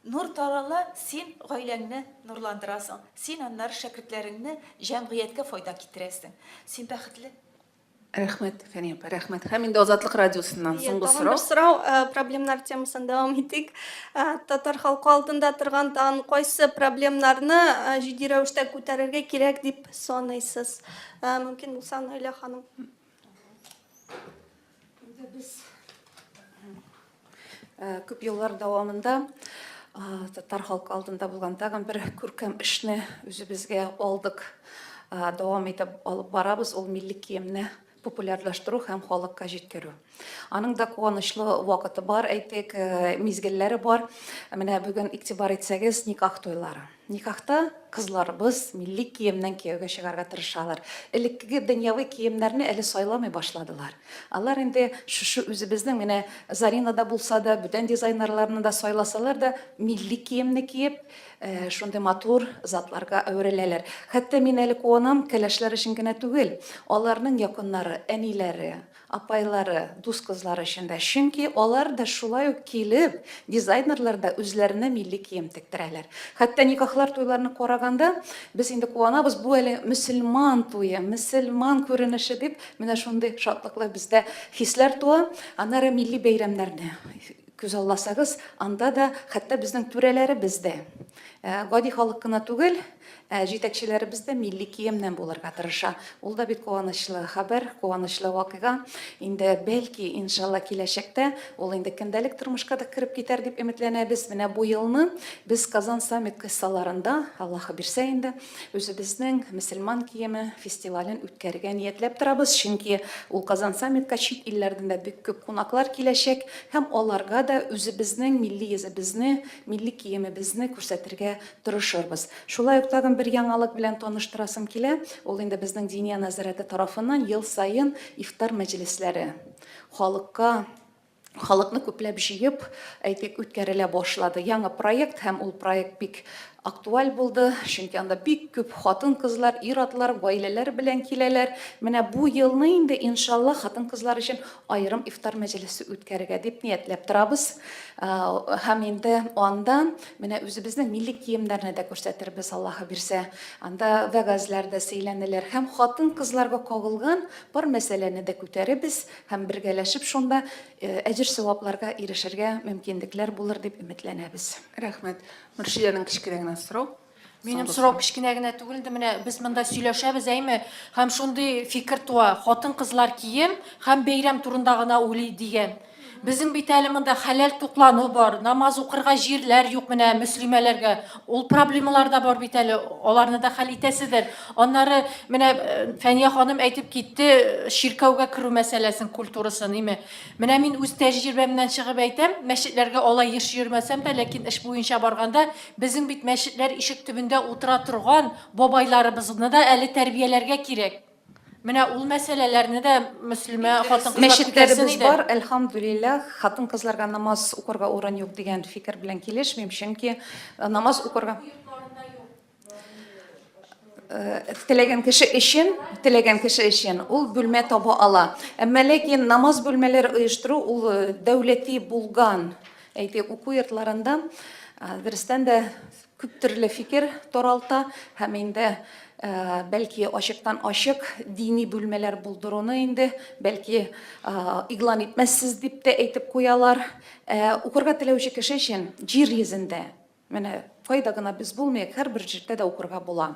Нур тарала, син гаиләңне нурландырасың, син аннары шәкертләреңне, җәмгыятькә файда китерәсең. Син бәхетле. Рәхмәт, Фәния апа, рәхмәт. Һәм инде Азатлык радиосыннан Иә, соңгы тагын сорау. бер сорау, ә, проблемнар темасын дәвам итик. Ә, Татар халкы алдында торган тагын кайсы проблемнарны ә, җитди рәвештә күтәрергә кирәк дип саныйсыз? Ә, Мөмкин булса, Наилә ханым. Инде без Э, күп еллар дәвамында э, татар халкы алдында булган тагын бер күркәм эшне үзебезгә алдык э, дәвам итеп алып барабыз ул милли киемне популярлаштыру һәм халыкка җиткерү аның да куанычлы вакыты бар әйтик мизгелләре бар менә бүген игътибар итсәгез никах туйлары Никахта кызларыбыз милли киемнән кияүгә чыгарга тырышалар. Элеккеге дөньяви киемнәрне әле сайламый башладылар. Алар инде шушы үзебезнең, менә Зарина да булса да, бүтән дизайнерларны да сайласалар да, милли киемне киеп, шундый матур затларга әвереләләр. Хәтта мин әле куанам, кәләшләр өчен генә түгел, аларның якыннары, әниләре, апайлары, дус кызлары өчен дә, чөнки алар да шулай ук килеп, дизайнерлар да үзләренә милли кием тектерәләр. Хәтта никахлар, туйларны караганда, без инде куанабыз, бу әле мөселман туе, мөселман күренеше дип, менә шундый шатлыклы бездә хисләр туа. Аннары милли бәйрәмнәрне күз алласагыз, анда да хәтта безнең түрәләребез дә гади халык кына түгел, Ә җитәкчеләребез дә милли киемнән булырга тырыша. Ул да бит куанычлы хәбәр, куанычлы вакыйга. Инде, бәлки, иншалла, киләчәктә ул инде көндәлек тормышка да кереп китәр дип өметләнәбез. Менә бу елны без Казан Саммит кысаларында, Аллаһы бирсә инде, үзебезнең мөселман киеме фестивален үткәрергә ниятләп торабыз. Чөнки ул Казан Саммитка чит илләрдән дә бик күп кунаклар киләчәк һәм аларга да үзебезнең милли йөзебезне, милли киемебезне күрсәтергә Тырышырбыз. Шулай ук тагын бер яңалык белән таныштырасым килә, ул инде безнең Диния нәзарәте тарафыннан ел саен ифтар мәҗлесләре халыкка, халыкны күпләп җыеп, әйтик, үткәрелә башлады. Яңа проект һәм ул проект бик актуаль булды, чөнки анда бик күп хатын-кызлар, ир-атлар, гаиләләр белән киләләр. Менә бу елны инде, иншаллаһ, хатын-кызлар өчен аерым ифтар мәҗлесе үткәрергә дип ниятләп торабыз. Һәм инде анда Менә үзебезнең милли киемнәрне дә күрсәтербез, Аллаһы бирсә. Анда вәгазьләр дә сөйләнелер һәм хатын-кызларга кагылган бар мәсьәләне дә күтәребез һәм бергәләшеп шунда әҗер-савапларга ирешергә мөмкинлекләр булыр дип өметләнәбез. Рәхмәт. Мөршидәнең кечкенә генә сорау. Минем сорау кечкенә генә түгел инде, менә без монда сөйләшәбез, әйме, һәм шундый фикер туа, хатын-кызлар кием һәм бәйрәм турында гына уйлый дигән. Безнең бит әле монда хәләл туклану бар, намаз укырга җирләр юк менә мөслимәләргә. Ул проблемалар да бар бит әле, аларны да хәл итәсездер. Аннары менә э, Фәния ханым әйтеп китте, чиркәүгә керү мәсьәләсен, культурасын, име. Менә мин үз тәҗрибәмнән чыгып әйтәм, мәчетләргә алай еш йөрмәсәм дә, ләкин эш буенча барганда, безнең бит мәчетләр ишек төбендә утыра торган бабайларыбызны да әле тәрбияләргә кирәк. Менә ул мәсьәләләрне дә мөслимә хатын-кызлар күтәрсен иде. Мәчетләребез бар, әлхәмдүлилләһ. Хатын-кызларга намаз укырга урын юк дигән фикер белән килешмим, чөнки намаз укырга. Теләгән кеше өчен, теләгән кеше өчен ул бүлмә таба ала. Әмма ләкин намаз бүлмәләре оештыру ул дәүләти булган, әйтик, уку йортларында дөрестән дә күп төрле фикер таралта һәм инде бәлки ачыктан ачык дини бүлмәләр булдыруны инде бәлки игълан итмәссез дип тә әйтеп куялар укырга теләүче кеше өчен җир йөзендә менә кайда гына без булмыйк һәрбер җирдә дә укырга була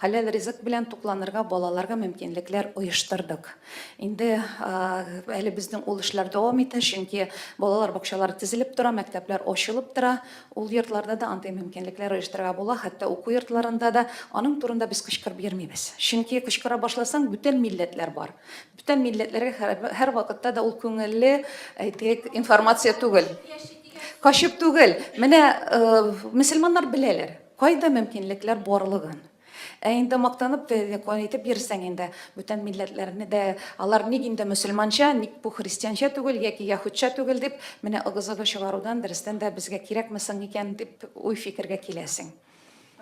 Хәләл ризык белән тукланырга балаларга мөмкинлекләр оештырдык. Инде әле безнең ул эшләр дәвам итә, чөнки балалар бакчалары тезелеп тора, мәктәпләр ачылып тора. Ул йортларда да андый мөмкинлекләр оештырырга була, хәтта уку йортларында да. Аның турында без кычкырып йөрмибез. Чөнки кычкыра башласаң, бүтән милләтләр бар. Бүтән милләтләргә һәрвакытта да ул күңелле, әйтик, информация түгел. Качып түгел. Менә мөселманнар беләләр. Кайда мөмкинлекләр барлыгын. Ә инде мактанып тә дәкъва итеп йөрсәң инде, бүтән милләтләрне дә, алар ник инде мөселманча, ник бу христианча түгел яки яһүдчә түгел дип, менә ыгы-зыгы чыгарудан дөрестән дә безгә кирәкме соң икән дип уй-фикергә киләсең.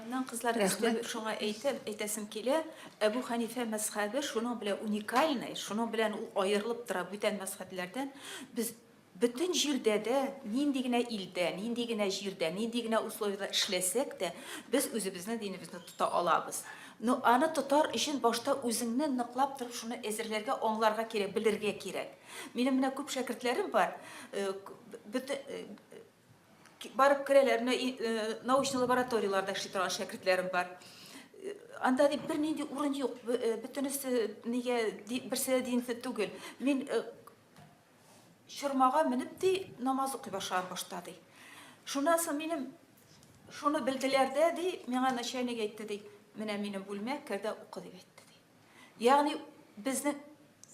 Аннан кызлар өсте шуңа әйтеп, әйтәсем килә, Әбү Хәнифә мәзхәбе шуның белән уникальный, шуның белән ул аерылып тора бүтән мәзхәбләрдән, без Бөтен җирдә дә, нинди генә илдә, нинди генә җирдә, нинди генә условиядә эшләсәк тә, без үзебезнең динебезне тота алабыз. Но аны тотар өчен башта үзеңне ныклап торып шуны әзерләргә, аңларга кирәк, белергә кирәк. Минем менә күп шәкертләрем бар, барып керәләр, менә научный лабораторияләрдә эшли торган шәкертләрем бар. Анда дип бернинди урын юк, бөтенесе нигә берсе дә динле түгел. Мин чормага менеп ди намаз укый башлар башта ди шуннан соң минем шуны белделәр дә ди миңа начальник әйтте ди менә минем бүлмә кер дә укы дип әйтте ди ягъни безнең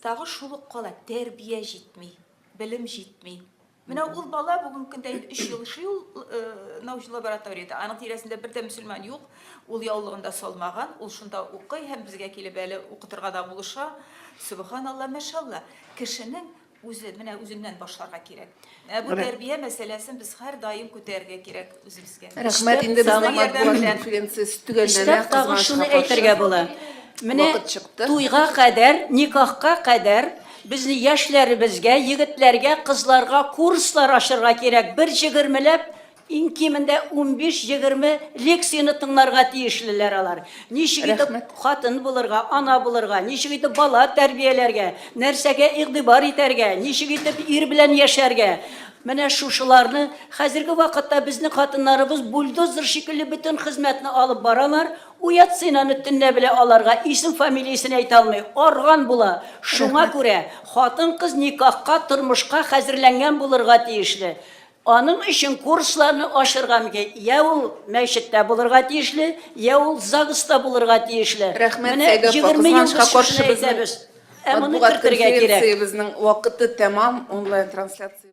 тагы шул ук кала тәрбия җитми белем җитми менә ул бала бүгенге көндә инде өч ел эшли ул э, научный лабораторияда аның тирәсендә бер дә мөселман юк ул яулыгын да салмаган ул шунда укый һәм безгә килеп әле укытырга да булыша сөбханалла мәшалла Кешенең үзе, менә үзеннән башларга кирәк. Ә бу тәрбия мәсьәләсен без һәрдаим күтәрергә кирәк үзебезгә. Рәхмәт инде безнең матбугат конференциясе төгәлләнә. Тагын шуны әйтергә була. Менә туйга кадәр, никахка кадәр безнең яшьләребезгә, егетләргә, кызларга курслар ачырга кирәк. Бер җигермеләп Иң кимендә унбиш-егерме лекцияне тыңларга тиешлеләр алар. Ничек итеп Рәхмәт. хатын булырга, ана булырга, ничек итеп бала тәрбияләргә, нәрсәгә игътибар итәргә, ничек итеп ир белән яшәргә. Менә шушыларны хәзерге вакытта безнең хатыннарыбыз бульдозер шикелле бөтен хезмәтне алып баралар. Уятсен аны төнлә белә аларга исем-фамилиясен әйтә алмый, арган була. Шуңа Рәхмәт. күрә хатын-кыз никахка, тормышка хәзерләнгән булырга тиешле. Аның өчен курсларны ачырга мөмкин. Йә ул мәчеттә булырга тиешле, йә ул ЗАГСта булырга тиешле. Рәхмәт, Сәйдәппа, Менә егерме ел без кызганычка каршы шушыны безнең әйтәбез. Ә моны матбугат кертергә кирәк. конференциябезнең вакыты тәмам, онлайн-трансляция.